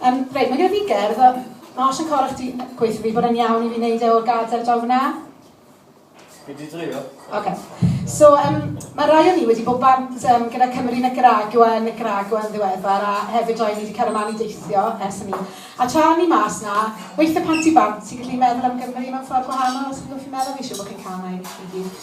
Yym, reit, mae gyda fi gerdd, a mae os yn cor chdi gweithio fi bod yn iawn i fi wneud e o'r gadair draw fyna? Fi di dreulio. OK. So, um, mae rai o ni wedi bod bant um, gyda Cymru Nicaragua, Nicaragua yn ddiweddar, a hefyd rai ni wedi cael ymlaen i deithio ers hynny. A tra ni mas na, weithio pan ti bant, ti'n gallu meddwl am Gymru mewn ffordd gwahanol, os chi'n gwybod fi'n meddwl, fi eisiau bod chi'n cael yna i gyd.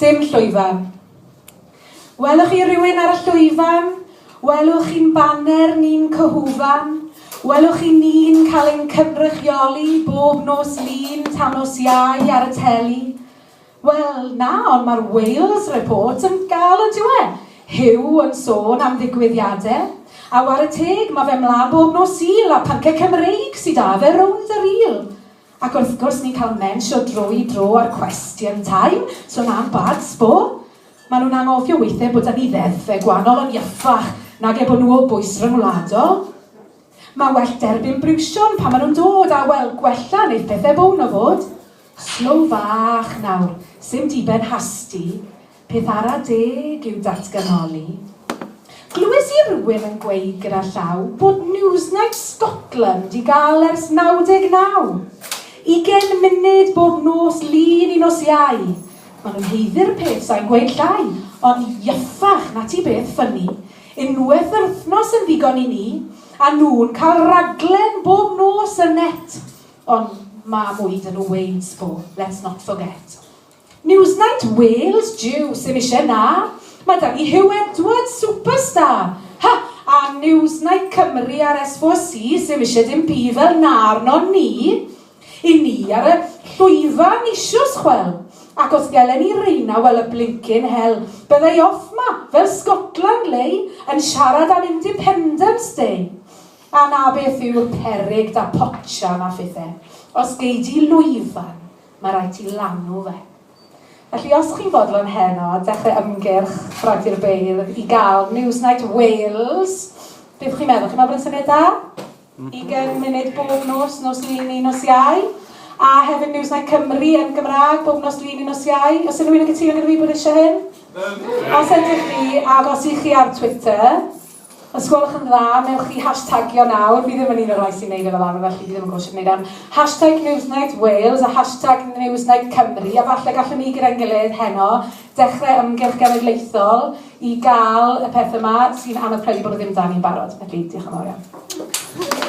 Dim llwyfan. Welwch chi rywun ar y llwyfan? Welwch chi'n baner ni'n cyhwfan? Welwch chi ni'n cael ein cynrychioli bob nos Lun tan nos Iau ar y teli? Wel, na, ond mae'r Wales Report yn gael yn diwe. Huw yn sôn am ddigwyddiadau. A war y teg, mae fe mlaen bob nos Sul a pynce Cymreig sydd 'da fe rownd y ril. Ac wrth gwrs, ni'n cael mensio drwy dro ar Question Time, sôn am bad sbo. Maen nhw'n anghofio weithiau bod 'da ni ddeddfau gwahanol yn iachach nag eu bod nhw o bwys ryngwladol. Mae well derbyn briwsion pan maen nhw'n dod, a wel, gwella wneith pethau bown o fod. Slow fach nawr, 'sim diben hasti. Peth ara deg yw datganoli. Glywes i rywun yn gweud gyda llaw bod Newsnight Scotland i gael ers 99! Ugen munud bob nos lun i nos Iau! Maen nhw'n haeddu'r peth sai'n gweud llai, ond yffach, 'na ti beth ffynni. Unwaith yr wythnos yn ddigon i ni, a nhw'n cael raglen bob nos yn net! Ond ma' mwy 'da nhw weud sbo, let's not forget. Newsnight Wales jiw sim isie na! Mae 'da ni Huw Edwards, superstar! Ha! A Newsnight Cymru a'r S4C sim isie dim byd fel 'na arnon ni! I ni ar y llwyfan eisios chwel! Ac os gelen ni reina wel y blincin hel! Byddai off 'ma, fel Scotland lei, yn siarad am independence day! A na beth yw'r peryg 'da potsian a phethe. Os gei di lwyfan, Mae rhaid ti lanw fe. Felly os chi'n fodlon heno dechrau ymgyrch Bradfyr Beirdd i gael Newsnight Wales, beth chi'n meddwl? Chi'n meddwl bod yn syniad da? Mm-hmm. Ugain munud bob nos, nos lun neu nos iau. A hefyd Newsnight Cymru yn Gymraeg bob nos lun neu nos iau. Os unrhyw un yn cytuno gyda fi bod eisiau hyn? Os ydych chi, agos i chi ar Twitter, Os gwelwch yn dda, newch chi hashtagio nawr, fi ddim yn un o'r rhai sy'n neud e fel arfer felly fi ddim yn gwybod sut wneud e, hashtag Newsnight Wales a hashtag Newsnight Cymru a falle gallwn ni gyda'n gilydd heno dechrau ymgyrch genedlaethol i gael y peth yma sy'n anodd credu bod o ddim 'da ni'n barod. Felly, diolch yn fawr iawn.